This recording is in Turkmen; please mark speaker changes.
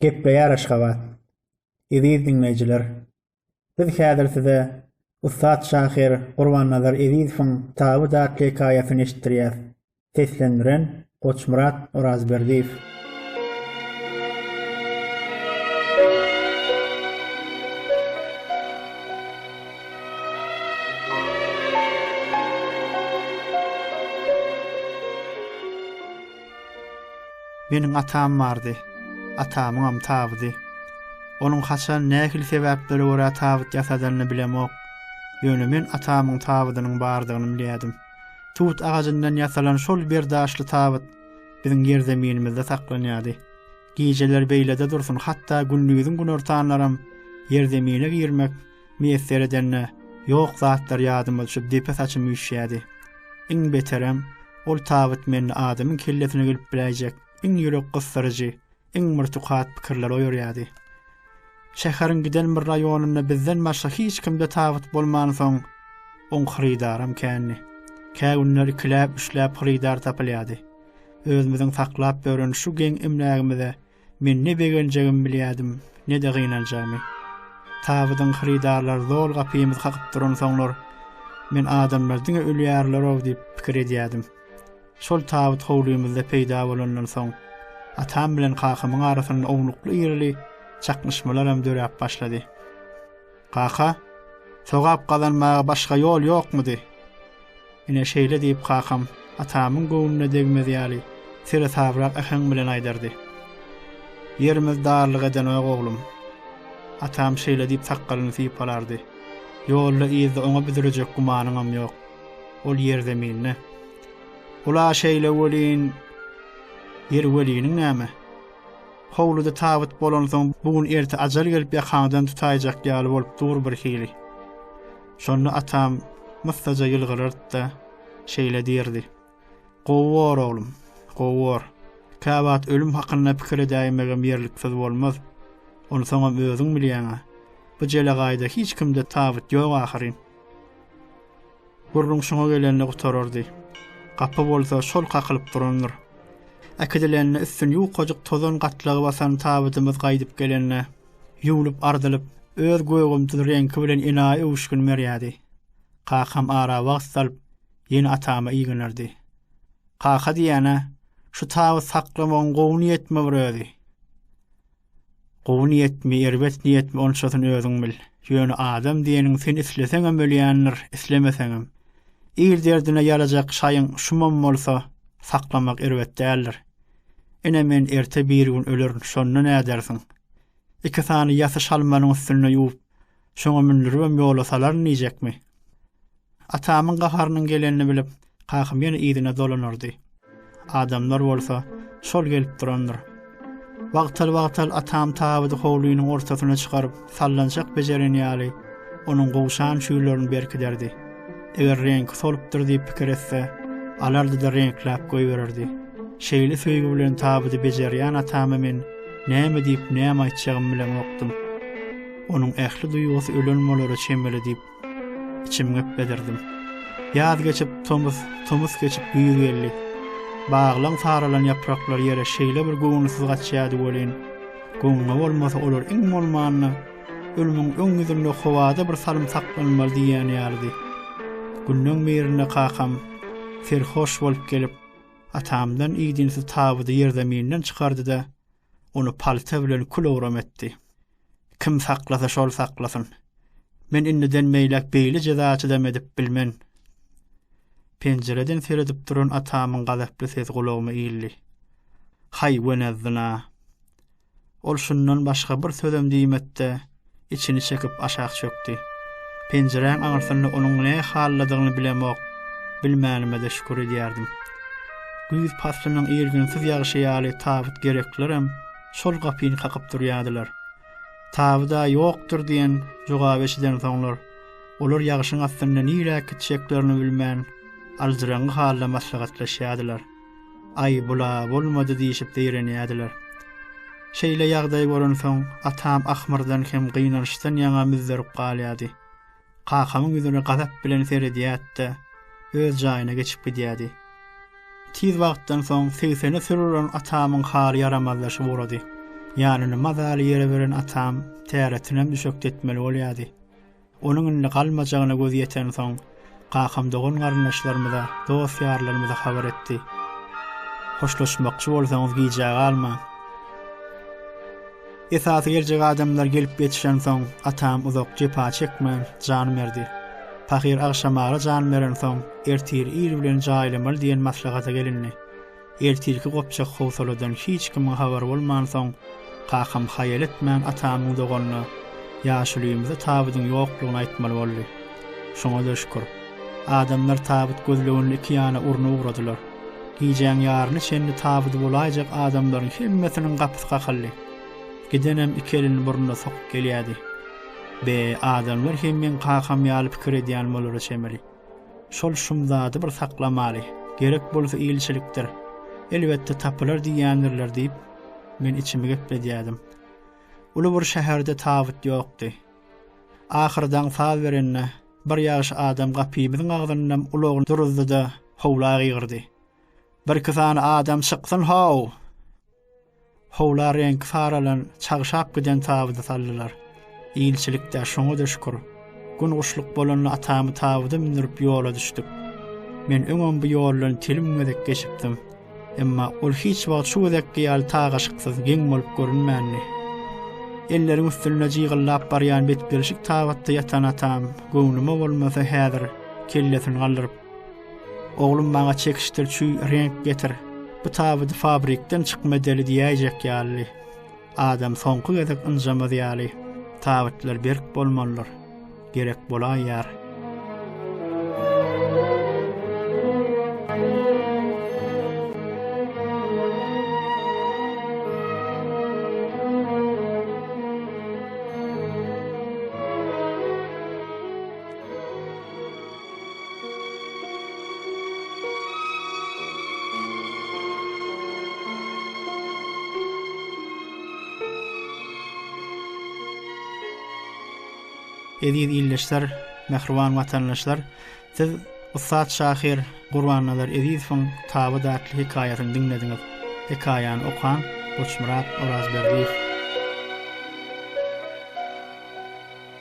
Speaker 1: Gepleýär Aşgabat. Eziz diňleýjiler, biz häzir size ussat şahyr Gurbannazar Ezizowyň Tabut atly hekaýasyny eşitdirýäs. Seslendiren, Goçmyrat Orazberdiýew.
Speaker 2: Meniň atam bardy. Atamyňam tabydy. Onuň haçan, nähili sebäplere görä tabyt ýasadanyny bilemok. Ýöne men atamyň tabydynyň bardygyny bilýärdim. Tut agajyndan ýasalan şol bir daşly tabyt biziň ýerzeminimizde saklanýardy. Gijeler beýlede dursun, hatda gündiziň günortanlaram ýerzemine girmek, Miýesser edende, ýok zatlar ýadyma düşüp depe saçym üýşýärdi. Iň beterem, ol tabyt mende adamyň kellesine gelip biläýjek iň ýürek gysdyryjy, iň bir tukat pikirleri oýarýardy. Şäheriň giden bir raýonynda bizden başga hiç kimde tabyt bolmansoň, oň hyrydaram kändi. Kä günler ikiläp-üçläp hyrydar tapylýardy. Özümiziň saklap ýören şu geň emlägimize Men ne begenjegimi bilýärdim, ne-de gynanjagymy. Tabydyň hyrydarlary zol gapymyzy kakyp duransoňlar, men adamlar diňe ölýärler-ow diýip pikir edýärdim. Şol tabyt howlymyzda peýda bolandan soň, atam bilen kakamyň arasynda ownukly-irili çaknyşmalaram döräp başlady. Kaka, sogap gazanmaga başga ýol ýokmudy? Ine, şeýle diýip, kakam atamyň göwnüne degmez ýaly, seresabrak äheň bilen aýdardy. Ýerimiz darlyk edenog, oglum. Atam şeýle diýip sakgalyny sypalardy. Ýolda-yzda oňa büdürejek gümanyňam ýok. Ol ýerzeminde. Ol-a şeýle welin, ýeri weliniň näme? Howluda tabyt bolansoň, bu gün erte ajal gelip ýakaňdan tutaýjak ýaly bolup dur bir hili. Şonda atam myssaja ýylgyrardy-da, şeýle diýerdi. Gowy bor, oglum, gowy bor. Käwagt ölüm hakynda pikir edäýmegem ýerliksiz bolmaz. Onsoňam özüň bilýäň-ä. Bu jelegaýda hiç kimde tabyt ýok ahyryn. Gürrüň şoňa gelende gutarardy. Gapy bolsa şol kakylyp durandyr. Äkidilende üstüni ýukajyk tozan gatlagy basan tabydymyz gaýdyp gelende, ýuwlup-ardylyp, öz gögümtiz reňki bilen enaýy öwüşgin berýärdi. Kakam ara wagt salyp, ýene atama ýygnardy. Kaka diýýän-ä, şu tabyt saklamagyň gowy niýetmi bir özi? Gowy niýetmi, erbet niýetmi onçasyny özüň bil. Ýöne adam diýeniň sen isleseňem ölýändir, islemeseňem. Il derdine ýarajak şaýyň şumam bolsa, saklamak erbet däldir. Ine men erte birigün ölerin, şonda nädersiň? Iki sany ýasy şalmanyň üstünde ýuwup, Şoňa mündüribem ýola salaryn diýjekmi? Atamyň gaharynyň gelenini bilip, kakam ýene yzyna dolanardy. Adamlar bolsa, şol gelip durandyr. Wagtal-wagtal atam tabydy howlynyň ortasyna çykaryp, sallançak bejeren ýaly, onuň gowşan çüýlerini berkiderdi. Eger reňki solupdyr diýip pikir etse, alardy-da reňkläp goýbererdi. Şeýle söýgi bilen tabydy bejerýän atama men näme diýip, näme aýtjagymy bilemokdym. Onuň ähli duýgusy ölen bolara çemeli diýip, içim gepledirdim. Ýaz geçip, tomus, tomus geçip güýz geldi. Baglaň saralan ýapraklar ýere şeýle bir göwnüsiz gaçýardy welin, goňňa bolmasa olar iň bolmanda Ölümiň öň ýüzünde howada bir salym saklanmaly diýýän ýalydy. Günleň birinde kakam serhoş bolup gelip, atamdan idinsiz tabydy ýerzeminden çykardy-da, ony palta bilen kül-owram etdi. Kim saklasa şol saklasyn. Men indiden beýläk beýle jeza çydam edip bilmen. Penjireden seredip duran atamyň gazaply sesi gulagyma ildi. Haý, wenezzina! Ol şundan başga bir sözem diýmedi-de, içini çekip aşak çökdi. Penjiräň aňyrsynda onuň ne halladygyny bilemok, bilmänime-de şükür edýärdim. Güýz paslynyň irginsiz ýagyşy ýaly tabyt gereklerem şol gapyny kakyp durýardylar. Tabyda ýokdur diýen jogaby eşidensoňlar, olar ýagyşyň astynda niräk gitjeklerini bilmän, aljyraňňy halda maslahatlaşýardylar. Aý, bul-a bolmady diýşip zeýrenýärdiler. Şeýle ýagdaý bolansoň, atam ahmyrdan hem gynançdan ýaňa müzzerip galýardy. Kakamyň ýüzüne gazap bilen seredýärdi-de, öz jaýyna geçip gidýärdi. Tiz wagtdan soň segsene sürülen atamyň haly ýaramazlaşyp ugrady. Ýanyny mazaly ýere beren atam täretinem düşekdetmeli bolýardy. Onuň indi galmajagyna gözi ýetensoň, kakam dogan-garyndaşlarymyza, dost-ýarlarymyza habar etdi. Hoşlaşmakçy bolsaňyz gijä galmaň. Esasy geljek adamlar gelip ýetişensoň, atam uzak jepa çekmän, jan berdi. Pahyr agşamara jan berensoň, ertir ir bilen jaýlamaly diýen maslahata gelindi. Ertirki gopjak howsaladan hiç kimiň habary bolmansoň, kakam haýal etmän atamyň doganyna ýaşulyymyza tabydyň ýoklugyny aýtmaly boldy. Şoňa-da şükür. Adamlar tabyt gözleginini iki ýana urna ugradylar. Gijäň ýaryna çenli tabydy bolaýjak adamlaryň hemmesiniň gapysy kakyldy. Gidenem iki elini burnuna sokup gelýärdi. Be, adamlar hem meň kakam ýaly pikir edýän bolara çemeli. Şol şumzady bir saklamaly. Gerek bolsa ilçilikdir. Elbetde tapylar diýýändirler diýip, men içimi gepledýädim. Uly bir şäherde tabyt ýokdy. Ahyry daň saz berende, bir ýagşy adam gapymyzyň agzynynam ulagyny duruzdy-da, howla gygyrdy. Birki sany adam çyksyn-how! Howla reňki saralan, çagşap giden tabydy saldylar. Ilçilik-dä, şoňa-da şükür. Gün guşluk bolanda atamy tabyda mündürip ýola düşdük. Men öňem bu ýoldan telim gezek geçipdim. Emma ol hiç wagt şu gezekki ýaly tagaşyksyz, geň bolup görünmändi. Elleriň üstünde jygyllap barýan betgelşik tabytda ýatan atam, göwnüme bolmasa häzir, kellesini galdyryp, Oglum maňa çekişdir çüý reňk getir. Bu tabydy fabrikden çykma deli diýäýjek ýaly. Adam soňky gezek ynjamaz ýaly. Tabytlar berk bolmalydyr. Gerek bolaýýar. Eziz ildeşler, mähriban watandaşlar, siz ussat şahyr Gurbannazar Ezizowyň Taby datly hekaýasyny diňlediňiz. Hekaýany okan Goçmyrat Orazberdiýew.